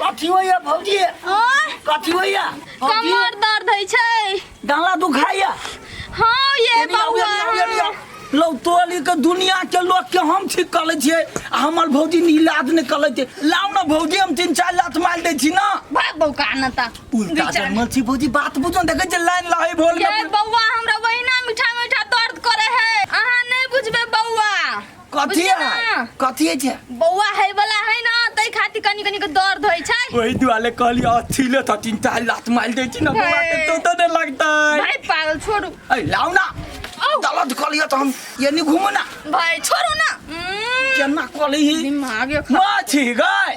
कथी होइया भौजी ओह, कथी होइया भौजी कमर दर्द होइ छै डाला दुखाइया हँ ये एनी आउ, एनी आउ, एनी बौआ आउ। लौ तोली के दुनिया के लोग के हम ठीक कर लै छियै आ हमर भौजी नीलाद ने कर लै छै लाउ ने भौजी हम तीन चार लात मार दै छी ना भाग बौका न त उल्टा जन्मल छी भौजी बात बुझो देखै छै लाइन लहै भोल ये बौआ हमरा वहिना मीठा मीठा दर्द करे है अहाँ नहीं बुझबे बौआ कथी बुझलियै है ना? कथी है छै बौआ है वाला है ना तै खातिर कनी कनी के दर्द होइ छै वही दुआले कहली अच्छी ले था तीन चार लात मार दे छी ना बौआ के तो तो नहीं लगता है भाई पागल छोड़ू ऐ लाओ ना औ दलत कर लिया तो हम ये नहीं घूमो ना भाई छोड़ू ना उम्म, केना कर ली दिमाग ये खराब। माछी गए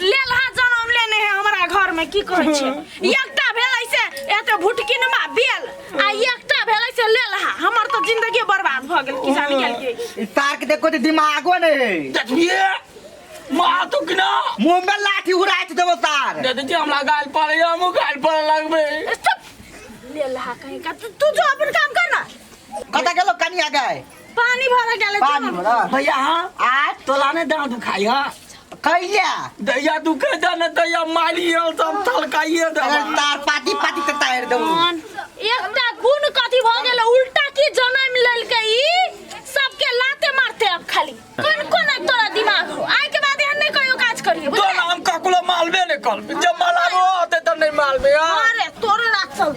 लेलहा जन्म लेने है हमरा घर में की कहै छै एकटा भेलै से एते भुटकिनमा बेल आ एकटा भेलै से लेलहा हमर तो जिंदगी बर्बाद भ गेल की जाने गेल की ई तार के देखो त दिमागो नै है देखिए मार तो कि ना मुंह में लाठी उड़ाइत देबो तार दे दीजिए हमरा गाल पर या मुंह गाल पर लगबे चुप लेलहा कहीं का तू तू जो अपन काम कर ना कता गेलो कनिया गए पानी भरा गेल पानी भरा भैया हाँ आ तोला ने दाँत दुखाई हाँ कैला दैया दुखे जा ने दैया मारी हल सब थलकाइए दे अगर तार पाती पाती से तार दो एकटा गुण कथी भ गेल उल्टा की जन्म लेलके ई सबके लाते मारते अब खाली कोन कोन अब तोरा दिमाग हो आइ के बाद एहन नहीं कहियो काज करियो तो हम ककलो मालबे ने कल जब मालाबो होते त नहीं मालबे हाँ अरे तोरो ना चल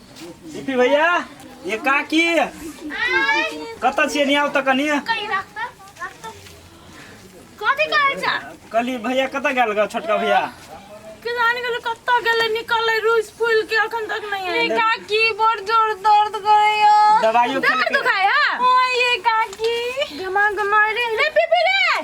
दीपी भैया ये काकी कतऽ छियै नियाउ तऽ कनी कहीं रख तो रख तो कथी कहै छ कहली भैया कतऽ गेल ग छोटका भैया किसान के लोग कत्ता गेले निकले रूस फूल के अखन तक नहीं आए काकी बड़ जोर दर्द करे या दवाइयो दर्द खेलकै। दुखाय है ओ ये काकी दिमाग मारे रे पीपी रे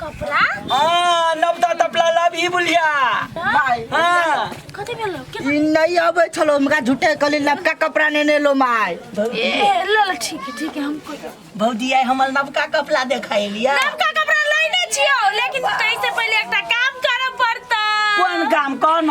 कपड़ा हाँ नवता तपला लाभ ही बुलिया माई हाँ कथी भेलो के ई नहीं अबे छलो हमरा झूठे कली लपका कपड़ा ने ने लो माय ए ले ले ठीक है ठीक है हमको भौजी आई हमर नवका कपड़ा देखाई लिया नवका कपड़ा लेने छियो लेकिन कैसे पहले एकटा काम करब पड़ता कोन काम कौन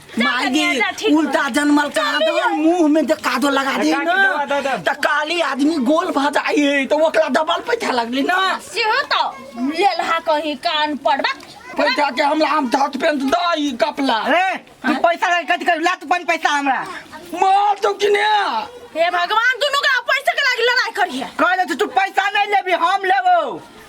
मागी उल्टा जनमल का दो मुंह में जे कादो लगा दी ना त काली आदमी गोल भ जाई है तो ओकरा डबल पैसा लगली ना सेहो तो लेलहा कहीं कान पर बा पैसा के हमरा हम धत पेंट दई कपला अरे तू पैसा का कथी कर लात बन पैसा हमरा मार तो किने हे भगवान दुनू का पैसा के लागी लड़ाई करिए कहले तू पैसा नहीं लेबी हम लेबो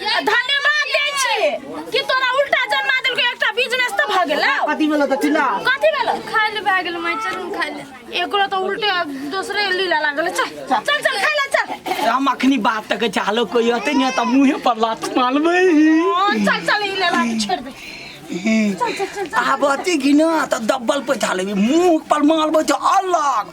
धन्यवाद दै छियै कि तोरा उल्टा जन्मा देलकै एकटा बिजनेस तऽ भऽ गेलौ कथी भेलौ तऽ चिल्ला कथी भेलौ खाय ले भए गेल माय चल हम खाय ले एकरो तऽ उल्टे दोसरे लीला लागल चल चल चल खाय ले चल हम अखनी बात तक चाहलो कोई होते नहीं तो मुंह पर लात मारबे हँ, चल चल ई लेला के छोड़ दे चल चल चल चल आब अति घिना तऽ डब्बल पैसा लेबी मुंह पर मारबे तऽ अलग